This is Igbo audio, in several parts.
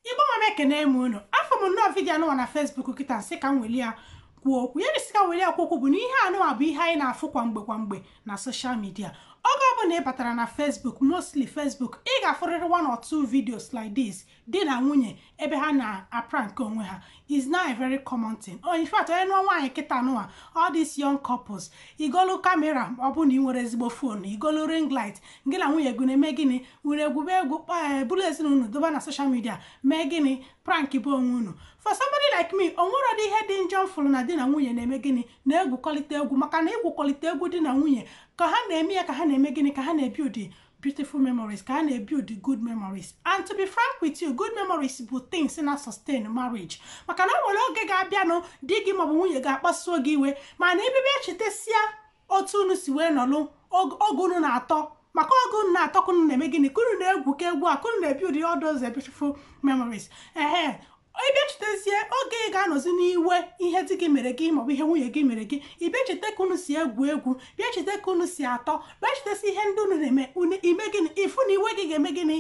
igbo mma mma ekene m unu afụ m nnọọ vidiyo anụwa na fesbuk kịta nsị ka m weli ya kwuo okwu ya nsị ka m weli ya kwuo okwu bụ na ihe anụwa bụ ihe anyị na-afụ kwa mgbe kwa mgbe na soshal midia oge ọ bụla ị batara na fesbuk mostly fesbuk ị ga-afụrịrị one or two videos like this di na nwunye ebe ha na-aprank onwe ha is now a very common thing oh, in fact onye nụọ nwaanyị kịta nụwa all these young couples igolu kamera ọ bụ na ị nwere ezigbo fon igolu ring light gị na nwunye gị na-eme gịnị were egwube egwu eh, buru ezinụlọ doba na social media mee gịnị prankba onwe unu for somebody like me o nwerọ dị ihe dị njọ m fụrụ na di na nwunye na-eme gịnị na-egwukọlịta egwu maka na igwukọlịta egwu di na nwunye ka ha na-eme ya ka ha na-eme gịnị ka ha na-ebuild beautiful memories ka ha na-ebuild good memories and to be frank with you good memories bụ things na-asustain marriage maka na o nwere oge ga-abịanụ di gị maọbụ nwunye gị akpasuo gị iwe mana ibibe echetasia otu unu si wee nọlụ oge unu na-atọ maka oge unu na-atọ ka unu na-eme gịnị ka unu na-egwu ka egwu a ka unu na-ebuild all those beautiful memories ehe ị bịa chetezie oge ị ga-anọzi n'iwe ihe di gị mere gị maọbụ ihe nwunye gị mere gị ị bịa chete ka unu si egwu egwu bịa chete ka unu si atọ bịa chetesi ihe ndị unu na-eme unu ime gịnị ịfụ na iwe gị ga-eme gịnị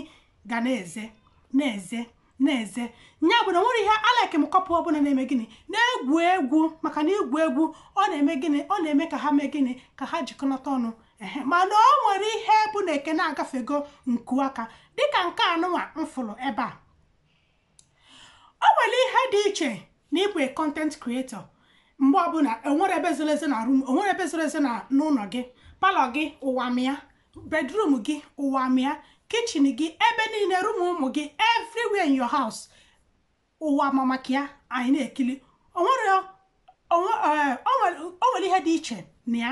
ga na-eze na-eze na-eze nya bụ na nwere ihe alike m couple ọbụla na-eme gịnị na-egwu egwu maka na igwu egwu ọ na-eme gịnị ọ na-eme ka ha mee gịnị ka ha jikọnata ọnụ ehe mana o nwere ihe bụ na ekene agafego nku aka dịka nke anụnwa m fụrụ ebe a o nwere ihe dị iche na ịbụ a content creator mgbe ọ bụ na enwerọ ebe zoro ezo na room enwerọ ebe zoro ezo na n'ụlọ gị palọ gị ụwa ma ya bedroom gị ụwa ma ya kichin gị ebe niile rum ụmụ gị everywhere in your house ụwa ma maka ya anyị na-ekili o nwere o nwe- eh, o nwere o nwere ihe dị iche na ya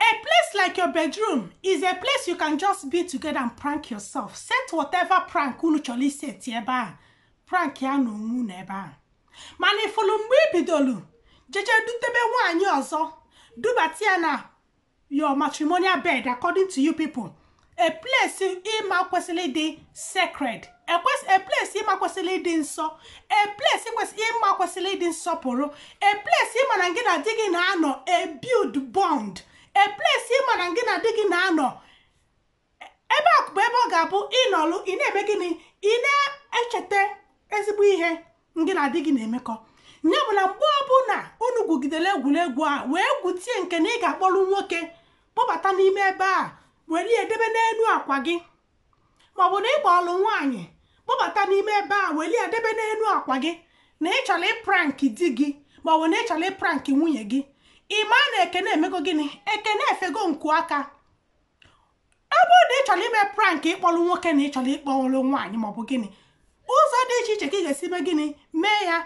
A place like your bedroom is a place you can just be together and prank yourself. Set whatever prank unu chọrọ iseti ebe a. Prank ya na onwe unu ebe a. Mana ị fụlụ mgbe i bidolu jeje dutebe nwaanyị ọzọ dubata ya na your matrimonial bed according to you people. a place ị ma kwesịrị ịdị sacred a place ị ma kwesịrị ịdị nsọ a place ị ma kwesịrị ịdị nsọpụrụ a place ị ma na gị na di gị na-anọ ebuild bond a place ị ma na gị na di gị na-anọ ebe a bụ ebe ọ ga-abụ ị nọlụ ị na-eme gịnị ị na-echeta ezigbo ihe ngị na di gị na-emekọ ya bụ na mgbe ọbụla unu gwugidere egwuregwu a wee gwutie nke na ị ga-akpọrọ nwoke kpọbata n'ime ebe a were ya edebe n'elu akwa gị maọbụ na ị kpọlụ nwaanyị kpọbata n'ime ebe a were ya edebe n'elu akwa gị na ị chọrọ ịpranki di gị maọbụ na ị chọrọ ịpranki nwunye gị ị ma na ekene emego gịnị ekene efego nku aka ọ bụrụ na ị chọrọ ime prank ịkpọrọ nwoke na ị chọrọ ịkpọrọ nwaanyị maọbụ gịnị ụzọ dị iche iche ka ị ga-esi mee gịnị mee ya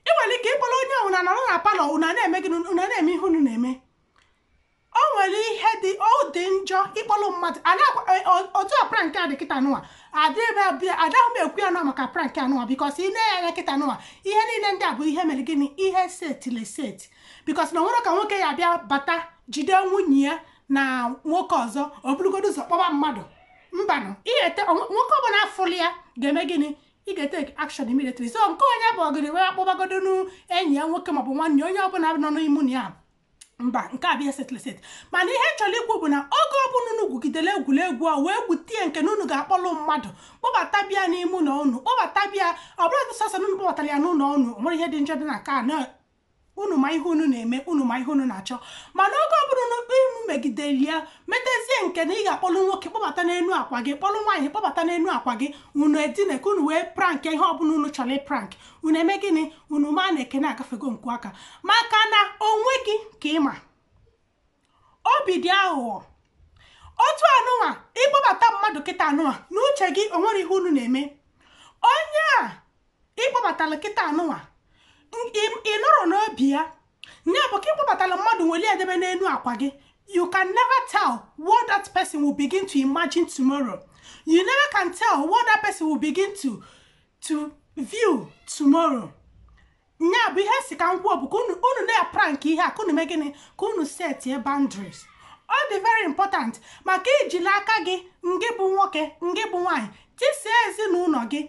ị nwere ike ịkpọrọ onye ọbụla nọrọ na palọ unu na-eme gịnị unu na-eme ihe unu na-eme o nwere ihe dị ọ dị njọ ịkpọrọ mmadụ otu a prank a dị kịta nụwa adịghị m ekwu ya na ọ maka prank anụwa because ị nenye anya kịta nụwa ihe niile ndị a bụ ihe mere gịnị ihe setili seti because na o nwere ka nwoke ya-abịa bata jide nwunye ya na nwoke ọzọ o burugodo ụzọ kpọba mmadụ mbanụ ị ga-ete onwe- nwoke ọbụla fụlụ ya ga-eme gịnị ị ga-etake action immediately so nke onye bụ ọgịrị wee kpọbagodo nụ enyi ya nwoke maọbụ nwanne ya, onye ọbụla nọ n'ime na ya mba nke a bụ ihe setili seti mana ihe chọrọ ikwu bụ na oge ọbụla unu gwugidere egwuregwu a wee gwutie nke na unu ga-akpọlụ mmadụ kpọbata bịa n'ime ụlọ unu kpọbata bịa ọ bụlụ dị sọsọ na unu kpọbatara ya n'ụlọ unu o nwere ihe dị njọ dị na nke a na unu ma ihe unu na-eme unu ma ihe unu na-achọ mana oge ọbụla unu unu megideli ya metezie nke na ị ga-akpọlụ nwoke kpọbata n'elu akwa gị kpọlụ nwaanyị kpọbata n'elu akwa gị unu edine ka unu wee prank ihe ọbụla unu chọrọ ịprank unu eme gịnị unu ma na ekene agafego nku aka maka na onwe gị ka ị ma obi dị aghụghọ otu anụnwa ị kpọbata mmadụ kịta anụnwa na uche gị o nwere ihe unu na-eme onye a ị kpọbatala kịta anụnwa ị nọrọ n'obi ya ya bụ ka ị kpọbatala mmadụ welu debe n'elu akwa gị you can never tell what that person will begin to imagine tomorrow you never can tell what that person will begin to to view tomorrow nya bụ ihe sị ka m kwuo bụ ka unu unu na-prank ihe a ka unu mee gịnị ka unu setie boundaries ọ dị very important maka ijili aka gị ngị bụ nwoke ngị bụ nwaanyị tisie ezinụlọ gị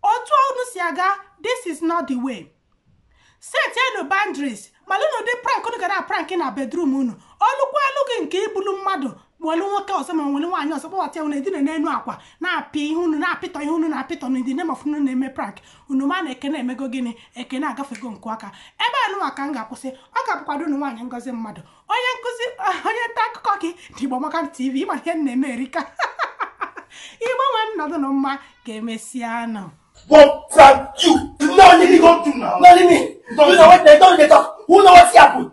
otu unu si aga this is not the way setienu boundaries malụnụ ụdị prank unu ga na-prank na bedroom unu o lukwalu gị nke ibulu mmadụ welu nwoke ọzọ ma welu nwaanyị ọzọ kpọbata ya unu edina n'elu akwa na-apị ihe unu na-apịtọ ihe unu na-apịtọ na in the name of unu na-eme prank unu ma na ekene emego gịnị ekene agafego nku aka ebe anụwa ka m ga-akwụsị ọ ga-abụkwa ada unu nwaanyị Ngozi Mmadụ onye nkụzi onye nta akụkọ ke ndị Igbo Amaka TV ị ma ihe m na-eme erika Igbo nwe m nọdụ nụ mma ka emesịa nụ But from you, you know anything go to now. Not me. You know what they don't get up. Who know what's happened?